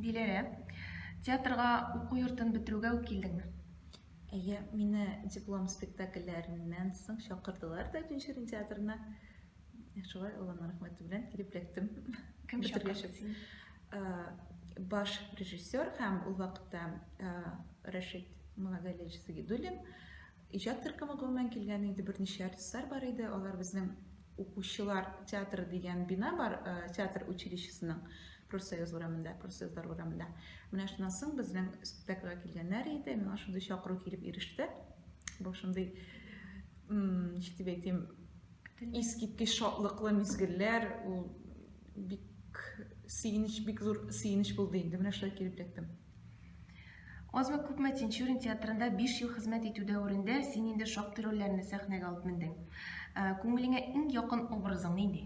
Диләрә, театрга уку йортын бетерүгә үк килдеңме? Әйе, мине диплом спектакльләреннән соң чакырдылар да Тюнчерин театрына. Шулай Алланың рәхмәте белән килеп эләктем. Кем чакырды сине? Баш режиссер һәм ул вакытта Рәшит Малагалевич Сагидуллин Иҗат төркеме гомумән килгән инде берничә артистлар бар иде. Алар безнең укучылар театры дигән бина бар, театр училищесының профсоюз урамында, профсоюзлар урамында. Менә шуннан соң безнең спектакльгә килгәннәр иде, миңа шундый чакыру килеп иреште. Бу шундый, ничек дип әйтим, искиткеч шатлыклы мизгелләр, ул бик сөенеч, бик зур сөенеч булды инде. Менә шулай килеп эләктем. Азмы күпме Тинчурин театрында 5 ел хезмәт итү дәверендә син инде шактый рольләрне сәхнәгә алып мендең. Э, күңелеңә иң якын образың нинди?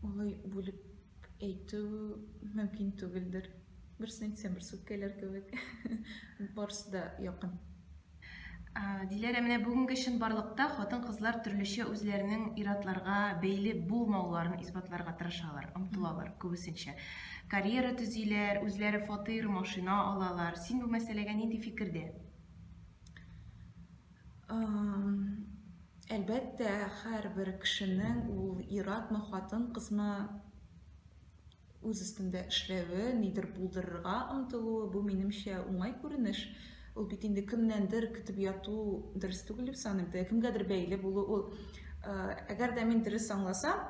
Олай бүлеп әйтү мөмкин түгелдер. Берсен әйтсәм, берсе үпкәләр кебек. Барысы да якын. Диләрә, менә бүгенге чынбарлыкта хатын-кызлар төрлечә үзләренең иратларга бәйле булмауларын исбатларга тырышалар, омтылалар күбесенчә. Карьера төзиләр, үзләре фатир, машина алалар. Син бу мәсьәләгә нинди фикердә? Әлбәттә, һәрбер кешенең ул иратмы, хатын-кызмы үз өстендә эшләве, нидер булдырырга омтылуы, бу, минемчә, уңай күренеш. Ул бит инде кемнәндер көтеп яту дөрес түгел дип саныйм. Теге кемгәдер бәйле булу ул. Э, әгәр дә мин дөрес аңласам,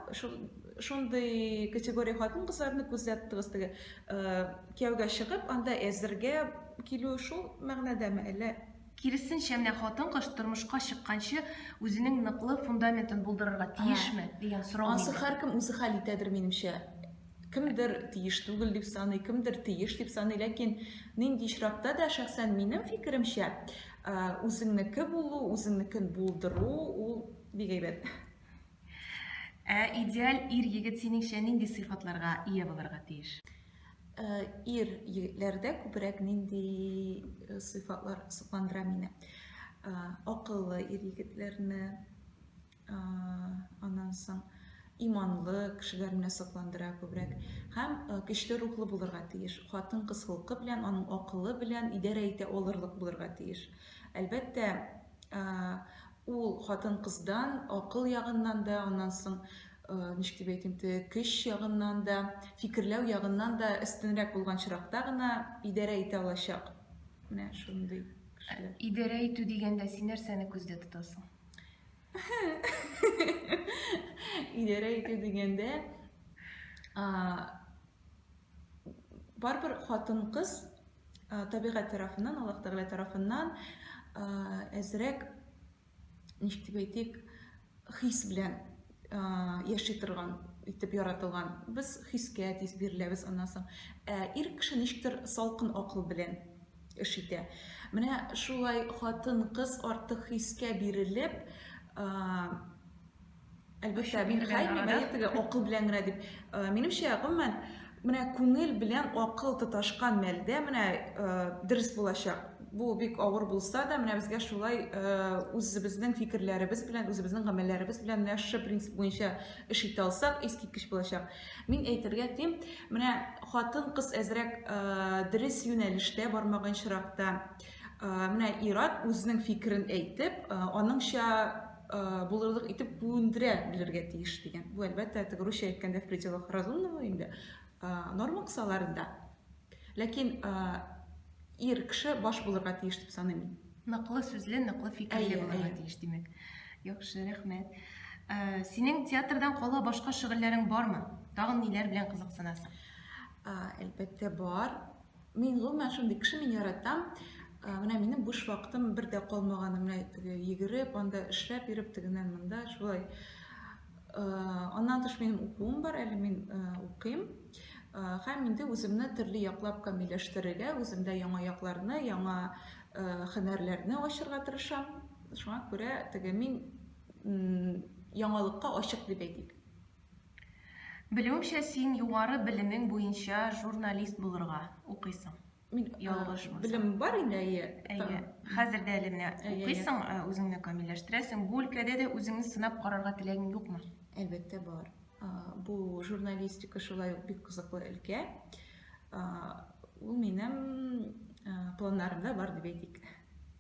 шундый категория хатын-кызларны күзәттегез теге э, кияүгә чыгып, анда әзергә килү шул мәгънәдәме, әллә Киресенчә, менә хатын-кыз тормышка чыкканчы үзенең ныклы фундаментын булдырырга тиешме дигән сорау. Асы һәркем үзе хәл итәдер, минемчә. Кемдер тиеш түгел дип саный, кемдер тиеш дип саный, ләкин нинди очракта да шәхсән минем фикеремчә, үзеңнеке булу, үзеңнекен булдыру ул бик әйбәт. Ә идеаль ир-егет синеңчә нинди сыйфатларга ия булырга тиеш? Ир егетләрдә күбрәк нинди сыйфатлар сокландыра мине? Акыллы ир егетләрне, аннан соң иманлы кешеләр менә сокландыра күбрәк. Һәм көчле рухлы булырга тиеш. Хатын-кыз холкы белән, аның акылы белән идарә итә алырлык булырга тиеш. Әлбәттә, Ул хатын-кыздан акыл ягыннан да, аннан соң, ничек дип әйтим, көч ягыннан да, фикерләү ягыннан да өстенрәк булган чиракта гына идарә итә алачак. Менә шундый кешеләр. Идарә итү дигәндә син нәрсәне күздә тотасың? Идарә итү дигәндә, барыбер хатын-кыз табигать тарафыннан, Аллаһ Тәгалә тарафыннан әзрәк, ничек дип әйтик, хис белән яши торган итеп яратылган. Без хискә тиз биреләбез аннан соң. Ә ир кеше ничектер салкын акыл белән эш итә. Менә шулай хатын-кыз артык хискә бирелеп, Әлбәттә, мин хәйми бәйе теге акыл белән генә дип. Э, минемчә, гомумән, менә күңел белән акыл тоташкан мәлдә менә э, дөрес булачак. Бу бик авыр булса да, менә безгә шулай э, үзебезнең фикерләребез белән, үзебезнең гамәлләребез белән менә шушы принцип буенча эш итә алсак, искиткеч булачак. Мин әйтергә тим, менә хатын-кыз әзрәк дөрес юнәлештә бармаган чиракта, менә ират үзенең фикерен әйтеп, аныңча булырлык итеп бүендерә белергә тиеш дигән. Бу әлбәттә теге русча әйткәндә в пределах разумного инде норма кысаларында. Ләкин ир кеше баш булырга тиеш дип саныйм. Ныклы сүзле, ныклы фикерле булырга тиеш, димәк. Яхшы, рәхмәт. Синең театрдан кала башка шөгыльләрең бармы? Тагын ниләр белән кызыксынасың? Әлбәттә, бар. Мин гомумән шундый кеше, мин яратам. Ә, менә минем буш вакытым бер дә калмаганы, менә теге йөгереп, анда эшләп йөреп, тегеннән монда шулай. Ә, аннан тыш минем укуым бар, әле мин ә, укыйм. Ә, һәм инде үземне төрле яклап камилләштерергә, үземдә яңа якларны, яңа ә, хөнәрләрне ачырга тырышам. Шуңа күрә теге мин яңалыкка ачык дип әйтик. Белүемчә, син югары белемең буенча журналист булырга укыйсың. Мин ялгышмасам. Белем бар инде, әйе. Әйе. Хәзер дә әле менә укыйсың, үзеңне камилләштерәсең. Бу өлкәдә дә үзеңне сынап карарга теләгең юкмы? Әлбәттә бар. Бу журналистика шулай ук бик кызыклы өлкә. Ул минем планнарымда бар дип әйтик.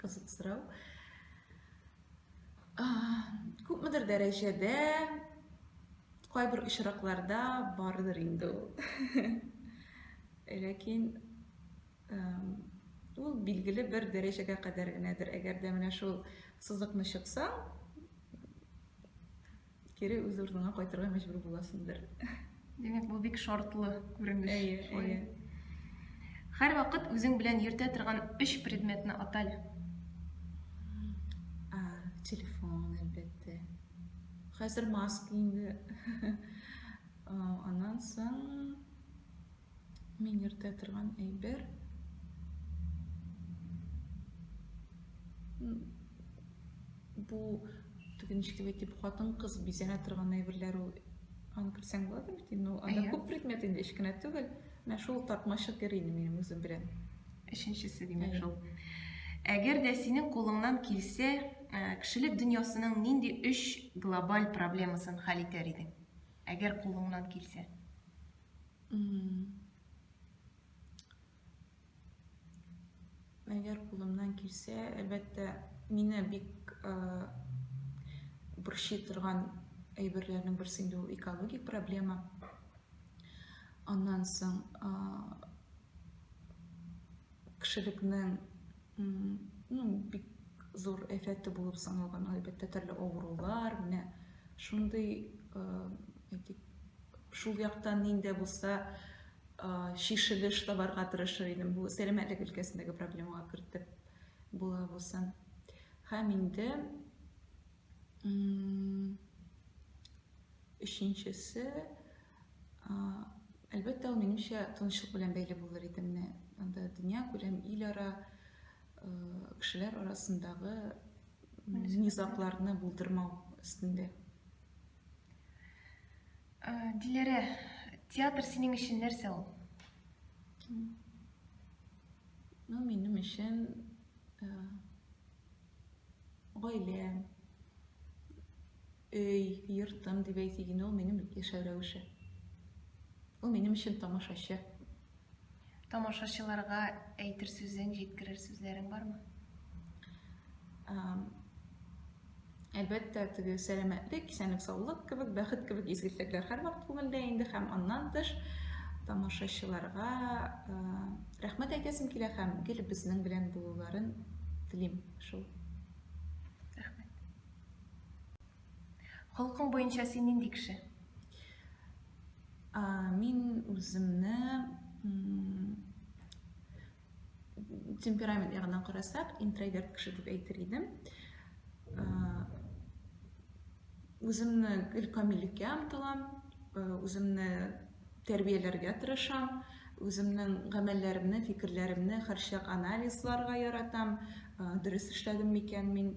Кызык сорау. Күпмедер дәрәҗәдә кайбер очракларда бардыр инде ул. Ләкин ул билгеле бер дәрәҗәгә кадәр генәдер. Әгәр дә менә шул сызыкны чыксаң, Кире үз урыныңа кайтырга мәҗбүр буласыңдыр. Димәк, бу бик шартлы күренеш. Әйе, әйе. Һәр вакыт үзең белән йөртә торган өч предметны атал. А, телефон, әлбәттә. Хәзер маска инде. Аннан соң Мин йөртә торган әйбер. Бу теге ничек әйтеп хатын кыз бизәнә торган әйберләр ул аны күрсәң була бит инде ул анда күп предмет инде кечкенә түгел менә шул тартмачык йөри инде минем үзем белән өченчесе димәк шул әгәр дә синең кулыңнан килсә кешелек дөньясының нинди өч глобаль проблемасын хәл итәр идең әгәр кулыңнан килсә Әгәр кулымнан килсә, әлбәттә, мине бик борчый торган әйберләрнең берсе инде ул экологик проблема. Аннан соң Кешелекнең ну бик зур әфәте булып саналган, әлбәттә, төрле авырулар, менә шундый, әйтик, шул яктан нинди булса чишелеш табарга тырышыр идем. Бу сәламәтлек өлкәсендәге проблемага кертеп була булсын. Һәм инде өченчесе Әлбәттә, ул минемчә тынычлык белән бәйле булыр иде менә. Анда дөнья күләм ил ара кешеләр арасындагы низакларны булдырмау өстендә. Диләрә, театр синең өчен нәрсә ул? Ну, минем өчен гаиләм, өй, йортым дип әйтик инде, ул минем яшәү рәвеше. Ул минем өчен тамашачы. Тамашачыларга әйтер сүзең, җиткерер сүзләрең бармы? Әлбәттә, теге сәламәтлек, исәнлек, саулык кебек, бәхет кебек изге теләкләр һәрвакыт күңелдә инде һәм аннан тыш тамашачыларга Рәхмәт әйтәсем килә һәм гел безнең белән булуларын телим шул. Рәхмәт. Холкың буенча син нинди кеше? А, мин үземне темперамент ягыннан карасак, интроверт кеше дип әйтер идем. үземне гел камиллеккә омтылам, э, үземне тәрбияләргә тырышам, үземнең гамәлләремне, фикерләремне һәрчак анализларга яратам, э, дөрес эшләдем микән мин.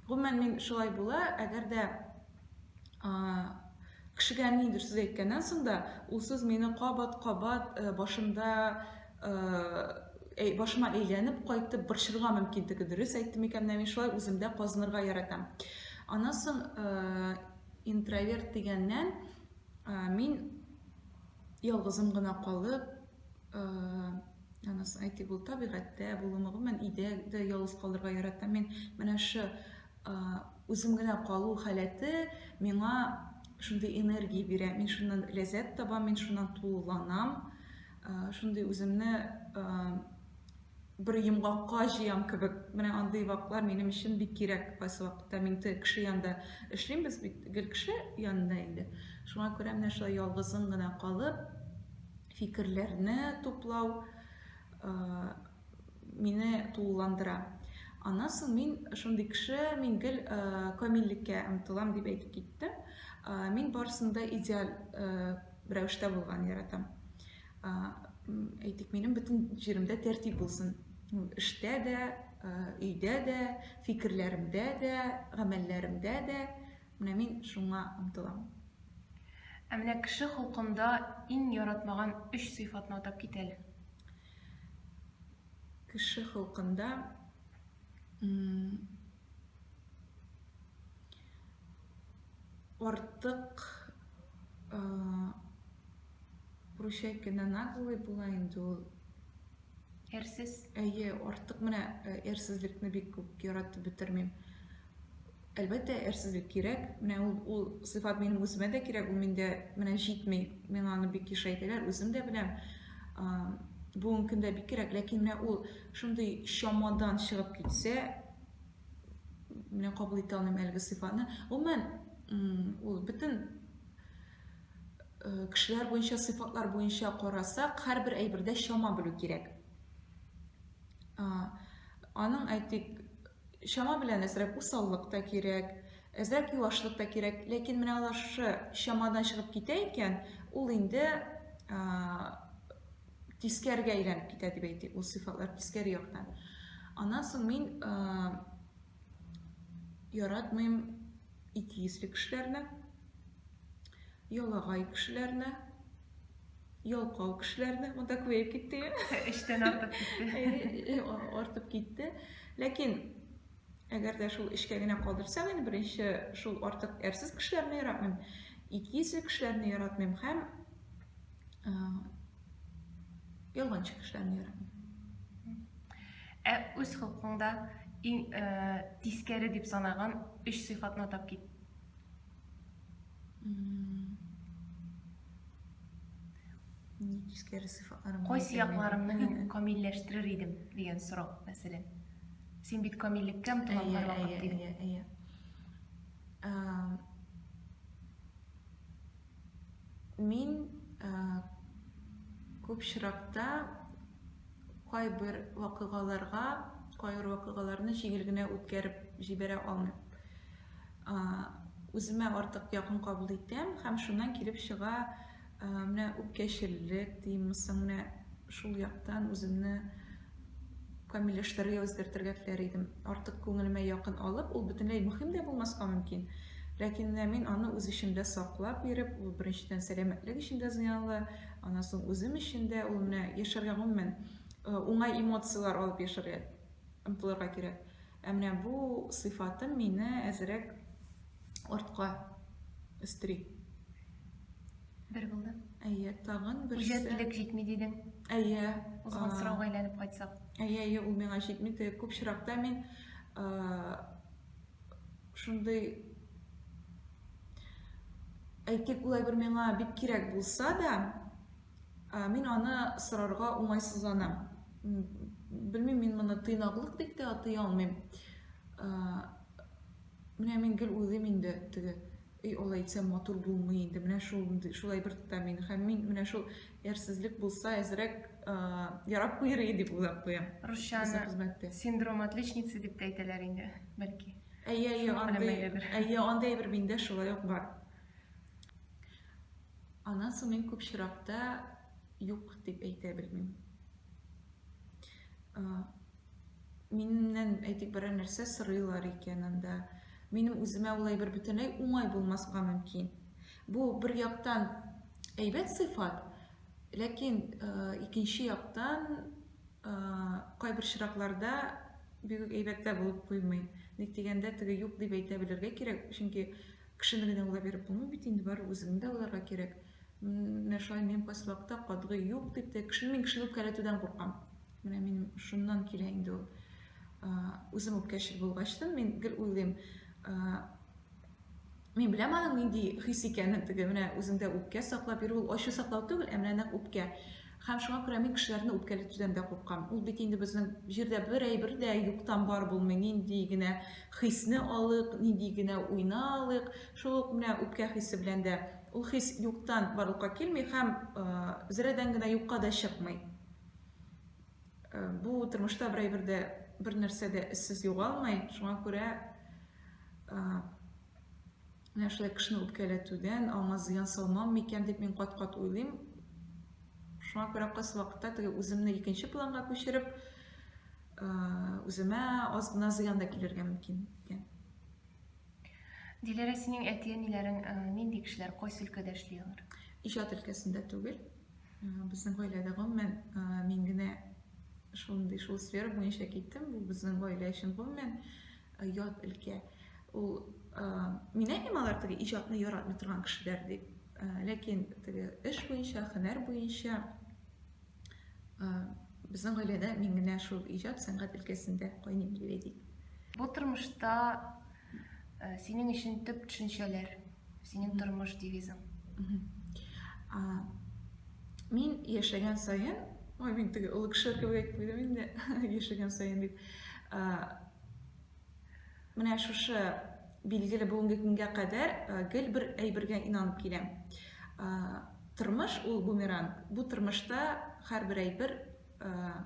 Гомумән мин шулай була, әгәр дә кешегә ниндер сүз әйткәннән соң да, ул сүз мине кабат-кабат э, башымда э, башыма әйләнеп кайтып борчырга мөмкин теге дөрес әйттем икән менә мин шулай үземдә казынырга яратам аннан соң э, интроверт дигәннән э, мин ялгызым гына калып анасы әйтик ул табигатьтә булуны гомумән өйдә дә ялгыз калырга яратам мин менә шы үзем генә калу халәте миңа шундый энергия бирә мин шуннан ләззәт табам мин шуннан тулыланам шундый үземне бер йомгакка җыям кебек. Менә андый вакытлар минем өчен бик кирәк. Кайсы вакытта мин кеше янында эшлимбез бит, гел кеше янында инде. Шуңа күрә менә шулай ялгызың гына калып, фикерләрне туплау, мине тулыландыра. Аннан соң мин шундый кеше, мин гел камиллеккә омтылам дип әйтеп киттем. Мин барысында идеаль рәвештә булган яратам. Әйтик, минем бөтен җиремдә тәртип булсын. Эштә дә, өйдә дә, фикерләремдә дә, гамәлләремдә дә. Менә мин шуңа омтылам. Ә менә кеше холкында иң яратмаган өч сыйфатны атап кит әле. Кеше холкында артык прощай кенә наглый була инде ул. Әрсез? Әйе, артык менә әрсезлекне бик күп яратып бетермим. Әлбәттә, әрсезлек кирәк. Менә ул, ул сыйфат минем үземә дә кирәк, ул миндә менә җитми. Миңа аны бик еш әйтәләр, үзем дә беләм. Бүгенге көндә бик кирәк, ләкин менә ул шундый чамадан чыгып китсә, менә кабул итә алмыйм әлеге сыйфатны. Гомумән, ул бөтен э, кешеләр буенча, сыйфатлар буенча карасак, һәрбер әйбердә чама белү кирәк. Аның, әйтик, Чама белән әзрәк усаллык та кирәк, әзрәк юашлык та кирәк. Ләкин менә алар шушы чамадан чыгып китә икән, ул инде тискәргә әйләнеп китә дип әйтик, ул сыйфатлар тискәре яктан. Аннан соң мин яратмыйм икейөзле кешеләрне, ялагай кешеләрне, ялкау кешеләрне монда күбәеп китте эчтән артып китте артып китте ләкин әгәр дә шул эчкә генә калдырсак инде беренче шул артык әрсез кешеләрне яратмыйм икейөзле кешеләрне яратмыйм һәм ялганчы кешеләрне яратмыйм ә үз холкуңда иң тискәре дип санаган өч сыйфатны атап кит Кайсы якларымны мин камилләштерер идем дигән сорау, мәсәлән. Син бит камиллеккә омтыла һәрвакыт дидең. Әйе, әйе, әйе. Мин күп чиракта кайбер вакыйгаларга, кайбер вакыйгаларны җиңел генә үткәреп җибәрә алмыйм. үземә артык якын кабул итәм һәм шуннан килеп чыга менә үпкәчеллек димме соң менә шул яктан үземне камилләштерергә үзгәртергә теләр идем артык күңелемә якын алып ул бөтенләй мөһим дә булмаска мөмкин ләкин менә мин аны үз эчемдә саклап биреп ул беренчедән сәламәтлек өчен дә зыянлы аннан соң үзем өчен дә ул менә яшәргә гомумән уңай эмоцияләр алып яшәргә омтылырга кирәк Ә менә бу сыйфатым мине әзерәк артка өстери. Бер булды. Әйе, тагын бер. Үҗәтлек җитми дидең. Әйе. Узган сорауга әйләнеп кайтсак. Әйе, әйе, ул миңа җитми. Күп чиракта мин шундый әйтик, улай бер миңа бик кирәк булса да, Ә, мин аны сорарга уңайсызланам. Белмим, мин моны тыйнаклык дип тә атый алмыйм. Ә, менә мин гел уйлыйм инде теге и алай итсә матур булмый инде менә шул шулай бер тота мин һәм мин менә шул әрсезлек булса әзрәк ярап куер иде дип уйлап куям русчаны хезмәттә синдром отличницы дип тә әйтәләр инде бәлки әйе әйе андый әйе андый бер миндә шулай ук бар Аннан соң мин күп чиракта юк дип әйтә белмим. Миннән әйтик берәр нәрсә сорыйлар икән анда. Минем үземә улай бер бөтенләй уңай булмаска мөмкин. Бу бер яктан әйбәт сыйфат, ләкин икенче яктан кайбер чиракларда бигүк әйбәттә булып куймый. Ник дигәндә, теге юк дип әйтә белергә кирәк, чөнки Кешене генә алга биреп булмый бит инде, бары үзеңне дә алырга кирәк. Менә шулай мин поселокта катгый юк дип тә, кешене мин кешене үпкәләтүдән куркам. Менә мин шуннан килә инде ул. Үзем үпкәчел булгачтан мин гел уйлыйм, Мин беләм аның нинди хис икәнен, теге менә үзеңдә үпкә саклап йөрү, ул ачу саклау түгел, ә менә нәкъ үпкә. Һәм шуңа күрә мин кешеләрне үпкәләтүдән дә куркам. Ул бит инде безнең җирдә бер әйбер дә юктан бар булмый. Нинди генә хисне алыйк, нинди генә уйны алыйк, шул ук менә үпкә хисе белән дә ул хис юктан барлыкка килми һәм зрәдән генә юкка да чыкмый. Бу тормышта бер әйбер дә, бер нәрсә дә эзсез югалмый. Шуңа күрә Менә шулай кешене үпкәләтүдән аңа зыян салмам микән дип мин кат-кат уйлыйм. Шуңа күрә кайсы вакытта теге үземне икенче планга күчереп, үземә аз гына зыян да килергә мөмкин икән. Диләрә, синең әти-әниләрең нинди кешеләр, кайсы өлкәдә эшли алар? Иҗат өлкәсендә түгел. Безнең гаиләдә гомумән мин генә шундый шул сфера буенча киттем. Бу безнең гаилә өчен гомумән Э, ят өлкә ул э, мин әйтмим алар теге иҗатны яратмый торган кешеләр дип э, ләкин теге эш буенча һөнәр буенча безнең гаиләдә мин генә шул иҗат сәнгать өлкәсендә кайный билгеләдик бу тормышта синең өчен төп төшенчәләр синең тормыш девизың мин яшәгән сайын ой мин теге олы кеше кебек әйтеп куйдым инде яшәгән сайын дип менә шушы билгеле бүгенге көнгә кадәр гел бер әйбергә инанып киләм тормыш ул бумеранг бу тормышта һәрбер әйбер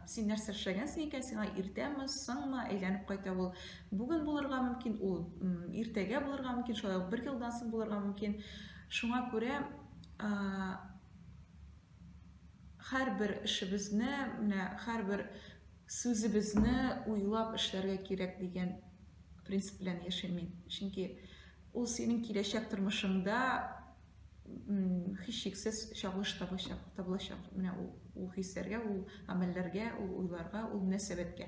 Син нәрсә эшләгәнсең икән, сиңа иртәме, соңмы әйләнеп кайта ул. Бүген булырга мөмкин, ул иртәгә булырга мөмкин, шулай ук бер елдан соң булырга мөмкин. Шуңа күрә һәрбер эшебезне, менә һәрбер сүзебезне уйлап эшләргә кирәк дигән принцип белән яшим мин. Чөнки ул синең киләчәк тормышыңда һичшиксез чагылыш табачак, табылачак. Менә ул, ул хисләргә, ул гамәлләргә, ул уйларга, ул мөнәсәбәткә.